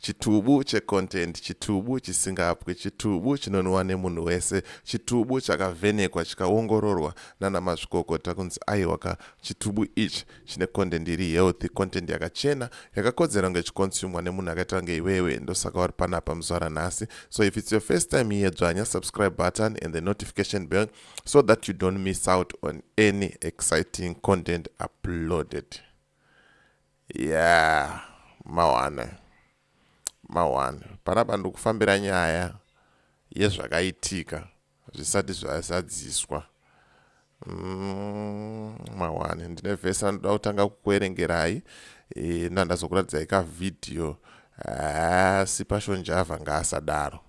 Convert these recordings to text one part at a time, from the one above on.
Chitubu checontent, chitubu chisingapwi, chitubu chinonwiwa nemunhu wese, chitubu chakavhenekwa chikaongororwa nana mazvikokota kunzi aiwa ka chitubu ichi chine content iri healthy, content yakachena yakakodzera kunge ichikonsumwa nemunhu akaita kunge iwewe. Ndosaka uri panapa muzuva ranhasi. So if it's your first time here, dzvanya subscribe button and the notification bell so that you don't miss out on any exciting content uploaded. Yeah mawana mawana panapa ndikufambira nyaya yezvakaitika zvisati zvazadziswa mm, mawana ndine vhesi randinoda kutanga kukuerengerai e, nandazokuratidzai kavhidhiyo asi pashonjava ngaasadaro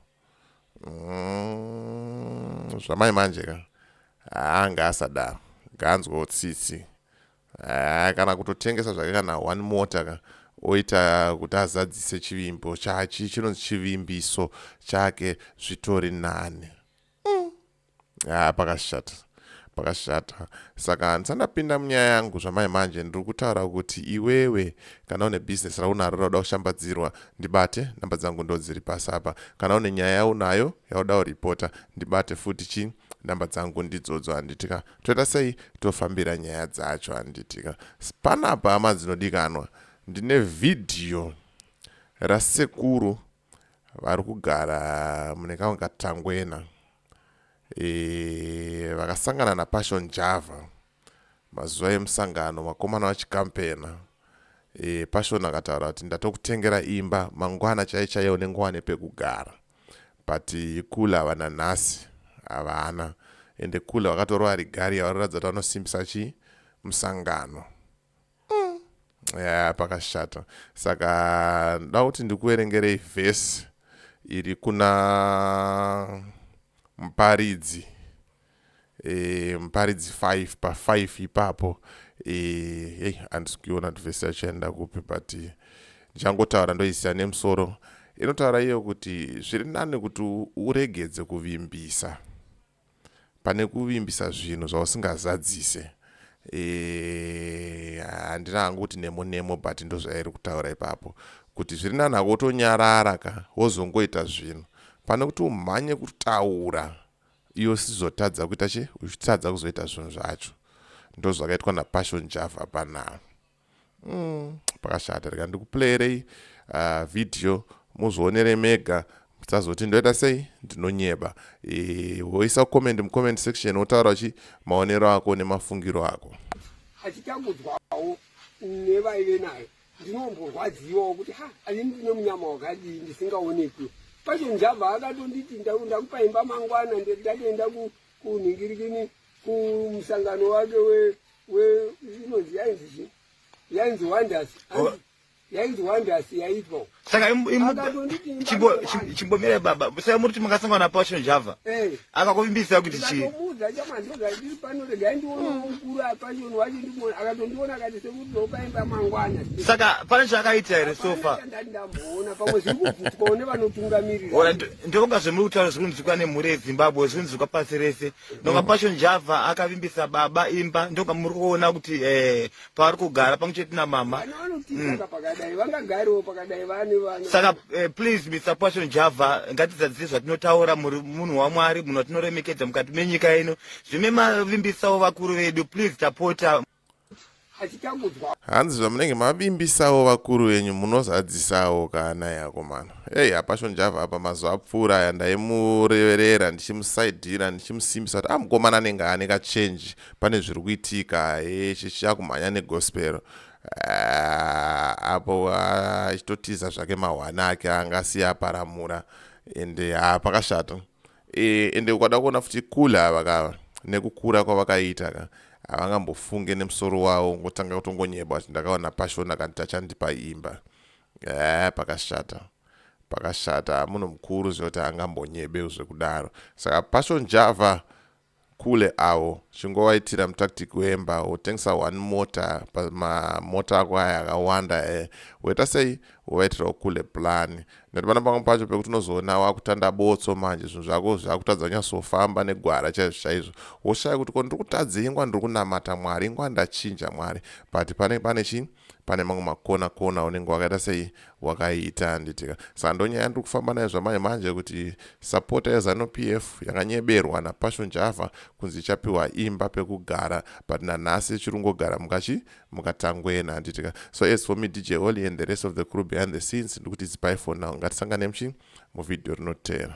mm, zvamai manje ka haa ngaasadaro ngaanzwewo tsitsi Haa kana kutotengesa zvake kana one mota ka oita kuti azadzise chivimbo chachi chinonzi chivimbiso chake zvitori nani mm. haa pakashata pakashata saka handisa ndapinda munyaya yangu zvamai manje ndiri kutaura kuti iwewe kana une business raunaro rauda kushambadzirwa ndibate namba dzangu ndo dziri pasi apa kana une nyaya yaunayo yauda kuripota ndibate futi chii namba dzangu ndidzodzo handiti ka Toita sei tofambira nyaya dzacho handiti ka. Panapa hama dzinodikanwa ndine vhidhiyo rasekuru vari kugara mune kamwe katangwena e, vakasangana napassion java mazuva emusangano vakomana vachikampena e, passion akataura kuti ndatokutengera imba mangwana chai chaiyo nengwane pekugara but cooler havana nhasi havana ende cooler vakatorova rigari yavaroratidza kuti vanosimbisa chii musangano mm. yeah, pakashata saka nda kuti ndikuverengerei vhesi iri kuna muparidzi e, muparidzi 5 pa 5 ipapo eh, hey, handisi kuiona kuti vhesi yachaenda kupi but eh, ndichangotaura ndoisiya nemusoro inotaura iyo kuti zviri nani kuti uregedze kuvimbisa pane kuvimbisa zvinhu zvausingazadzise eh, handina e, hangu kuti nemo nemo but ndozvairi kutaura ipapo kuti zviri nani hako wotonyarara ka wozongoita zvinhu pane kuti umhanye kutaura iwe usizotadza kuita chi uchitadza kuzoita zvinhu zvacho ndozvakaitwa napassion java panaa mm, pakashata rega ndikuplayerei uh, video muzvionere mega musazoti ndoita sei ndinonyeba e, woisa comment mucomment section wotaura chi maonero ako nemafungiro ako hatitambudzwawo nevaive nayo ndinomborwadziwawo kuti ha ani ndine munyama wakadii ndisingaonekwi pacho njamba akatonditi ndakupa imba mangwana ndatoenda kunhingirikini kumusangano wake inonzi yainzi chii yainzi wonders yainzi wonders yaitwa saka chimbomira baba saka muri kuti makasangana na passion java eh. akakuvimbisa kuti chii saka pane chaakaita here sofa ndokunga zvemuri kutaura zviri kunzwikwa nemhuri yezimbabwe zviri kunzwikwa pasi rese ndokunga mm. passion java akavimbisa baba imba ndokunga muri kuona kuti eh, pavari kugara pamwe chete namama mm. saka eh, please mr passion java ngatizadzise zvatinotaura muri munhu wamwari munhu atinoremekedza mukati menyika ino zvime mavimbisawo vakuru vedu please tapota hanzi zvamunenge mavimbisawo vakuru venyu munozadzisawo kana yako mano ei hapasho njava apa mazuva apfuura aya ndaimureverera ndichimusaidhira ndichimusimbisa kuti amukomana ah, anenge ane kachenji pane zviri kuitika chakumhanya negospel ah, apo ah, achitotiza zvake mahwani ake anga asiya aparamura ende ha ah, pakashata e, ende ukada kuona futi kule ava kava nekukura kwavakaita ka havangambofunge nemusoro wavo ngotanga kutongonyeba kuti ndakaona pashona kanti tachandipa imba e, pakashata pakashata munhu mukuru zvekuti angambonyebe zvekudaro saka pashon java Kule awo chingowaitira mutactic wemba wotengesa one mota pamamota ako aya akawanda e eh. woita sei wovaitirawo kule plan nekuti pana pamwe pacho pekuti unozoona wakutanda botso manje zvinhu zvako zvakutadza kunyasofamba negwara chaizvo chaizvo woshaya kuti ko ndiri kutadza ingwa ndiri kunamata mwari ingwa ndachinja mwari but pane pane chii pane mamwe makona kona unenge wakaita sei wakaita handitika saka ndonyaya ndiri kufamba nayo zvamanje manje kuti sapota yezanu p f yakanyeberwa napassion java kunzi ichapiwa imba pekugara but nanhasi ichiri kungogara mukachi mukatangwena handitika so as for me dj oli and the rest of the crew behind the scenes ndikuti zipai for now ngatisangane muchi muvhidhiyo rinoteera